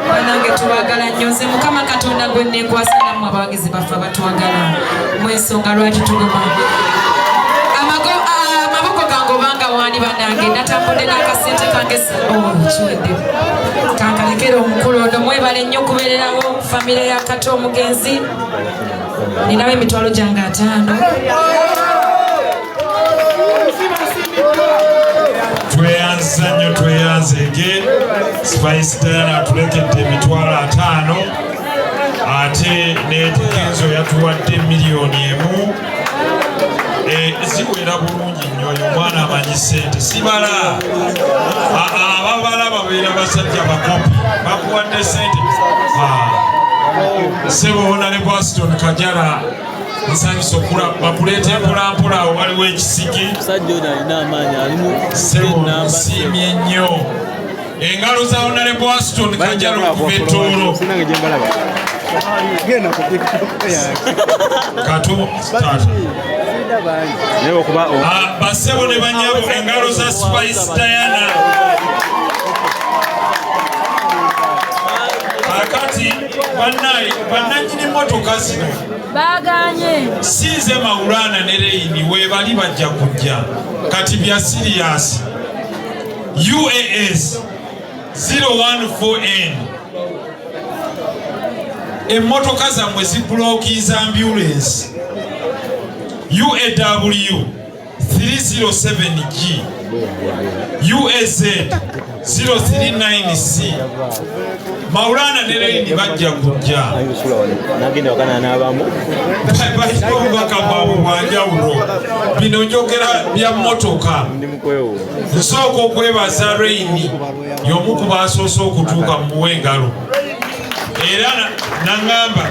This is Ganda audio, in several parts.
banange tubagala nnyo nze mukama katonda gwe nekwasa namwe abawagizi baffe abatwagala mwensonga lwaki tuguma amaboko gange obanga wani banange natambudde nakasente kange oh, kiwedde kankalekera omukulu ono mwebale nnyo okubererawo famire ya kata omugenzi ninawo emitwalo gyange ataano tweyanza nnyo tweyanzege spice diana atulekedde emitwalo ataano ate netekenzo yatuwadde miliyoni emu eh, ziwera bulungi nnyo oyo omwana amanyi sente sibala ababala babeera basajja bakopi bakuwadde sente sebo wonale bwaston kajara nsanyusa okula bakuleeta empolampola awo waliwo ekisiki nsiimye nnyo engalo za onale bwaston kajala okuva ettoolo basebo ne banyabo engalo za spice diana bannanyini mmotoka zino baganye sinze mawulana ne reyini webali bajja kujja kati bya siriyasi uas 014n emmotoka zammwe zibulokiiza ambulensi uaw 307G UAZ 039C Maulana ne Leyini bajja kujja baliko obubaka bwabwe bwanjawulo bino njogera bya mmotoka nsooka okwebaza Leyini y'omu ku baasoose okutuuka mu muwe engalo era nangamba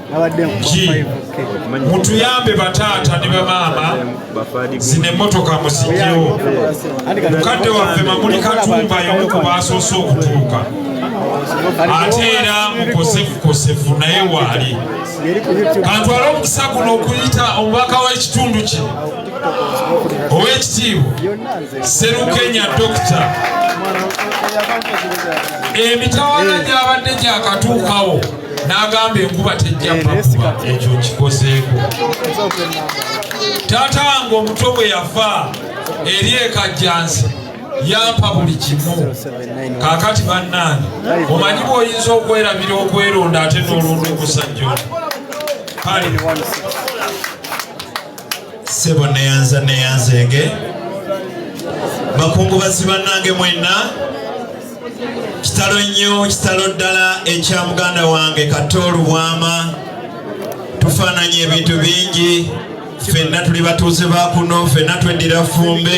mutuyambe bataata ne bamaama zino emmotoka muzijjewo mukadde waffe mamuli katumba yomu ku baasoose okutuuka ate era mukosefukosefu naye waali kantwala omukisa guno okuyita omubaka w'ekitundu kino ow'ekitiibwa serukenya dokita emitawana gyabadde gyakatuukawo n'agamba enkuba tejja pakuba eh, ekyo kikozeeko taata wange omuto bwe yafa eri ekajjansi yampa buli kimu kaakati bannaani omanyi bw'oyinza okwerabira okweronda ate n'olonda omusajja kale sebo neyanza neyanzenge bakungubazi bannange mwenna kitalo nnyo kitalo ddala ekya muganda wange kato olubwama tufaananya ebintu bingi fenna tuli batuuze bakuno fenna tweddira fumbe